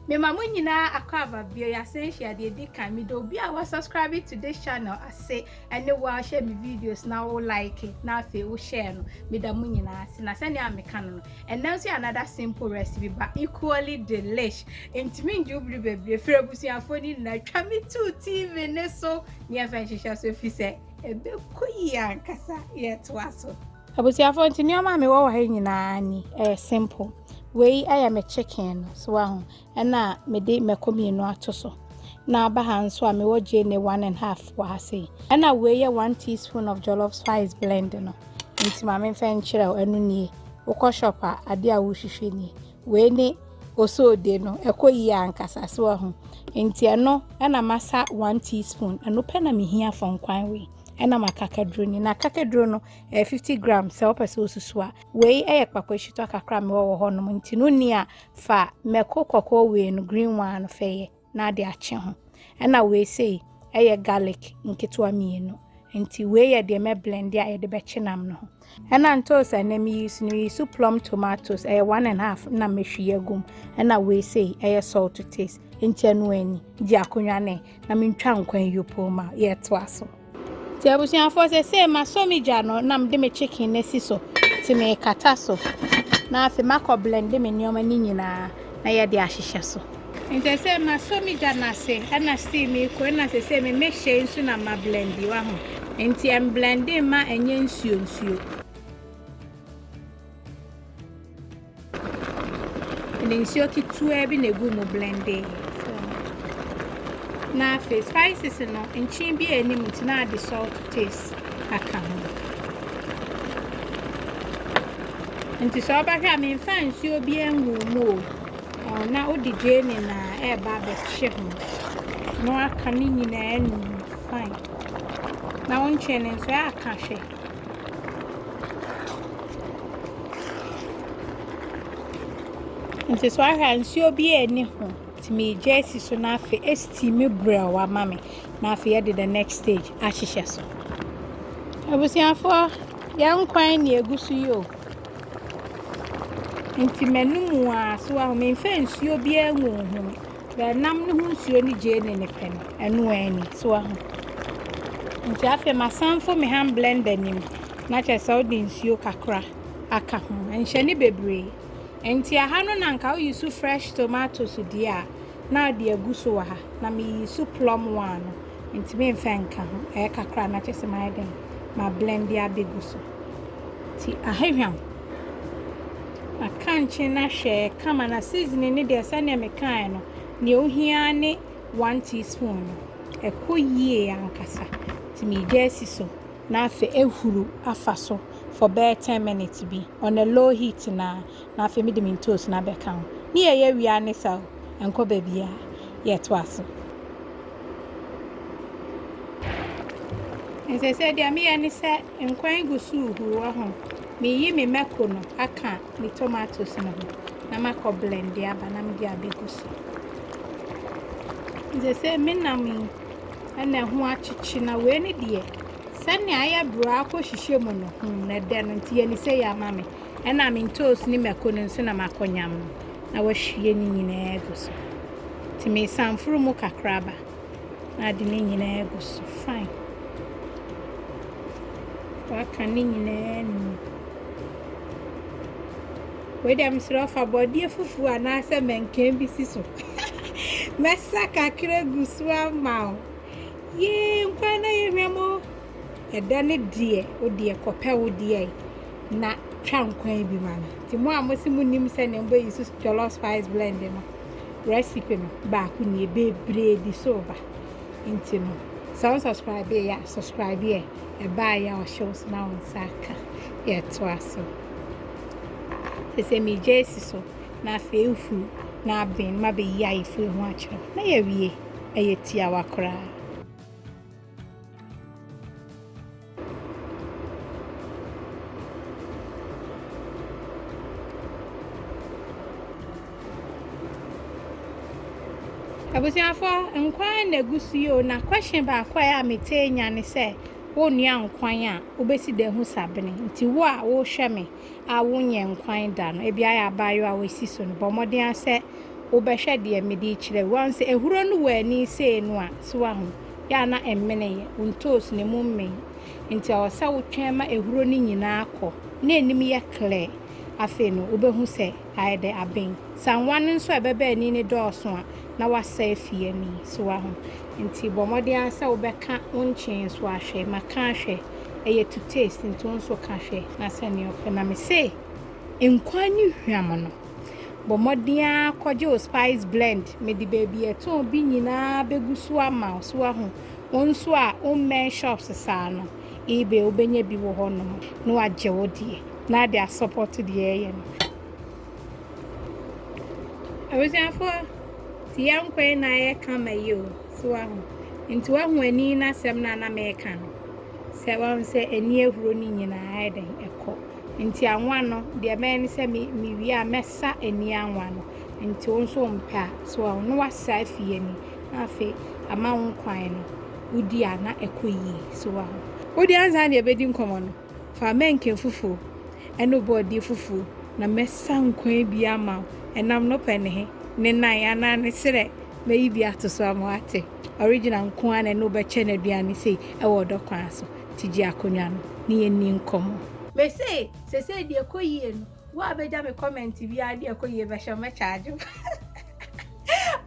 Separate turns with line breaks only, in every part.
mema mo nyinaa akɔ aba bio yɛasɛnhyia deɛ ɛdi kan mede obi a wasubscribe to this channel ase ɛne wo a wohyɛ me videos na wo like na afei wohyɛɛ no meda mo nyinaa ase na sɛnea meka no no Ɛnam sɛ another simple recipe but equally delish ntumi ngye wo bere bebree firi abusuafoɔ no nyinaa twa me too TV no so ne yɛmfa nhyehyɛ so ɛfiri sɛ ɛbɛkɔ yie ankasa yɛtoa so. Abusuafoɔ nti nneɛma a mewɔ wɔ ha nyinaa ni ɛyɛ simple wei ɛyɛ me chicken no so waho Ɛna mede mako mmienu ato so. Na aba ha nso a mewɔ gyeene one and half wɔ ha sei. Ɛna wei yɛ one teaspoon of jollof spice blend no. Nti maame mfɛ nkyerɛ wo ɛno nie. Wokɔ shop a adeɛ a wohwehwɛ nie. Wei ne osoodie no ɛkɔ yie ankasa so ahu. Nti ɛno ɛna masa one teaspoon. Ɛno pɛ na mehia for nkwan wei. Ɛna ma kakaduro ni. Na kakaduro no ɛyɛ fifty gram sɛ wopɛ sɛ wosusu a. Wei ɛyɛ kpakɔ eshitɔ kakra a mewɔ wɔ hɔ nom. Nti no ni a Fa mako kɔkɔɔ wei no, green one no, fɛ yɛ na ade akye ho. Ɛna wei sei ɛyɛ garlic nketewa mmienu. Nti wei yɛ deɛ mɛ blende a yɛde bɛkye nam no ho. Ɛna ntoos a ɛnɛ me use no, me use plum tomatoes, ɛyɛ one and half na mɛ hwie agum. Ɛna wei sei ɛyɛ salt to taste. Nti ɛno ani, gye akonnwa ne. na mentwa nkwan yopoo ma yɛtoa so. Nti abusuafoɔ sɛ sɛ masɔ me gya no na mede me chicken no asi so nti mekata so na afei makɔ blende me nneɛma no nyinaa na yɛde ahyehyɛ so. Nti sɛ masɔ me gya no ase ɛna sii mekɔ ɛna sɛ sɛ me mehyɛ nsu na ma blende wa ho nti ɛmblende ma ɛnyɛ nsuo nsuo. Mede nsuo ketewa bi na ɛgu mu blende na afei spices no nkyen bi a ɛni mu nti na ade salt taste aka ho nti sɛ ɔbɛhwɛ a memfa nsuo bi ngu mu o na wode gyeene na ɛreba abɛhye ho na waka ne nyinaa num fine na wonkyɛn no nso ɛaka hwɛ Nti so ahwɛ a nsuo bi a ɛni ho nti megya asi so na afei ɛsitiimi brɛw ama me na afei yɛde the next stage ahyehyɛ so abusuafoɔ yɛn nkwan na egu so yi o nti m'anum a so ahome nfa nsuo biara ngu ho. Hwɛ nam no ho nsuo ne gyee ne ne pɛ no. Ɛno ara ni so ahu. Nti afei masan fo me hand blender nim na kyerɛ sɛ wode nsuo kakra aka ho. Nhyɛ ne bebree. Nti aha no na nka woyi so fresh tomatoes deɛ a na ade agu so wɔ ha. Na meyi so plum one no. Nti memfa nka ho. Ɛyɛ kakra na kyerɛ sɛ mayɛ dɛn ma blender abɛgu so. Nti ahehwam. Akankye no ahwɛ kama na seasoning no deɛ sɛdeɛ mekaeɛ no deɛ ohia ara ne one teaspoon no ɛkɔ yie ankasa nti megya asi so na afei ahuru afa so for bɛyɛ ten minutes bi on a low heat na na afei mede me ntoos no abɛka ho ne yɛyɛ wia ne sa o ɛnkɔ baabiara yɛtoa so. Nsesɛɛ deɛ meyɛ ne sɛ nkwan gu so rehuru wɔ ho. Meyi me mako no aka me tomatoes no ho na makɔ blend aba na mede abɛgu so. Nsesɛɛ me nam yi ɛna ɛho akyekye na wei ne deɛ sɛnea ayɛ braa kɔ hyehyɛ mu no hmm na ɛdɛ no nti yɛ ne sɛ yɛ ama me. Ɛna me ntoosi ne mako no nso na makɔ nyam no na wahwie ne nyinaa agu so. Nti me sanforo mu kakra ba na ade ne nyinaa agu so fine. Waka ne nyinaa nu. Wei deɛ mesrɛ ɔfa bɔdeɛ fufuo anaasɛ mɛnkɛn bi si so. Mɛsa kakra gu so ama o. Yee nkwa na yɛhwɛ mo. ɛdɛ ne deɛ wo deɛ kɔpɛ wo deɛ na twa nkwan bi ma no nti mo a mo se mo nim sɛ ne mbɛ use jollof spice blend no recipe no baako nie bebree di so ba nti no sɛ wɔn subscribe yɛ ya subscribe yɛ ɛbaa yɛ ɔhyɛw so na wɔn nsa aka yɛ to aso sɛ mi gya esi so na afei efu na abɛn ma bɛyi ayefo ehu akyerɛw na yɛ wie ɛyɛ tiawa koraa. abusuafo nkwan na egu so yi o na question baako a mete nya ne sɛ wonua nkwan a wobɛsi dɛn ho sabene nti wo a wohwɛ me a wonyɛ nkwan da no, ebia ayɛ abaayewa a wasi so no, bɔ mmɔden ara sɛ wobɛhwɛ deɛ mede rekyerɛ yi. Woahu sɛ ahuro no wɔ ani sei no a, so woahu? Yɛ a na ɛmmeneeɛ, wo ntoosi no emu mmee. Enti ɛwɔ sɛ wotwɛn ma ahuro no nyinaa kɔ na anim yɛ clear. Afei no, wobɛhu sɛ. Ayɛ dɛ aben. Sɛ anwa no nso a ɛbɛba ani no dɔɔso a, na wasɛe fie ani. So woahu? Enti bɔ mmɔden ara sɛ wobɛka wo nkyee nso ahwɛ. Ma ka ahwɛ. Ɛyɛ to taste, nti wo nso ka hwɛ na sɛnea ɔpɛ. Na mise, nkwan ne hwam no, bɔ mmɔden ara kɔgye wo spice blend. Mede baabi a ɛtɔn bi nyinaa bɛgu so ama wo. So woahu? Wo nso a wommɛn shops saa no. Ebay wobɛnya bi wɔ hɔ nom na wagye wo deɛ na ade asɔpɔto deɛ ɛyɛ no. Abusuafoɔ ti yɛ nkwa yi na ayɛ kama yi o so wahu nti wahu ani na asɛm na na mɛka no sɛ wahu sɛ ani ahuro no nyinaa ayɛ dɛn ɛkɔ nti anwa no deɛ mɛyɛ ne sɛ mewie a mɛsa ani anwa no nti wo nso mpɛ a so wahu no wasa afie ni na afei ama wo nkwan no wodi a na ɛkɔ yie. So woahu? Wo deɛ ansa na yɛbɛdi nkɔmmɔ no, fa mɛnke fufuo ne wo bɔɔdeɛ fufuo na mɛsa nkwan bi ama wo. Ɛnam no pɛ ne he? Ne nan anaa ne serɛ? Mɛyi bi ato so ama woate. Original nko ara na ɛne wo bɛkyɛ no aduane sei wɔ ɔdɔ kwan so. Nti gye akonnwa no na yɛnni nkɔmmɔ. Mese, Seesei deɛ ɛkɔ yie no, Wo a bɛgya me comment biara de ɛkɔ yie bɛhyɛ wo mɛcharge wo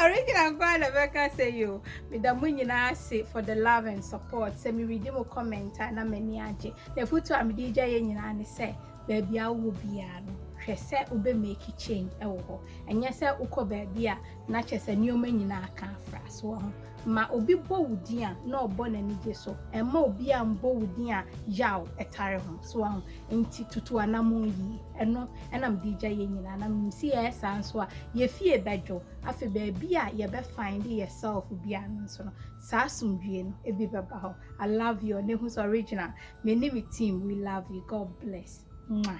Original nkoa na bɛka sɛ yo meda mo nyinaa ase for the love and support sɛ meredi mo comment a na m'ani agye na afotu a mede gya yɛ nyinaa ne sɛ baabi a wowɔ biara no hwɛ sɛ wobɛ make change wɔ hɔ ɛnyɛ sɛ wokɔ baabi a na kyɛ sɛ nneɛma nyinaa ka afra so wɔ ho Ma obi bɔ wo din a, na ɔbɔ n'anigye so. Mma obiara mmɔ wo din a yaw tare ho. So woahu? Enti tutu anammɔn yiye. Ɛno na mede regya yɛn nyinaa. Na minim sɛ yɛyɛ saa nso a, yɛn fie bɛdwo. Afei baabi a yɛbɛ find yɛn self biara no nso no, saa asomdwoe no bi bɛba hɔ. I love you Ɔnehus Original. Me ne me team, we love you. God bless. Mwah.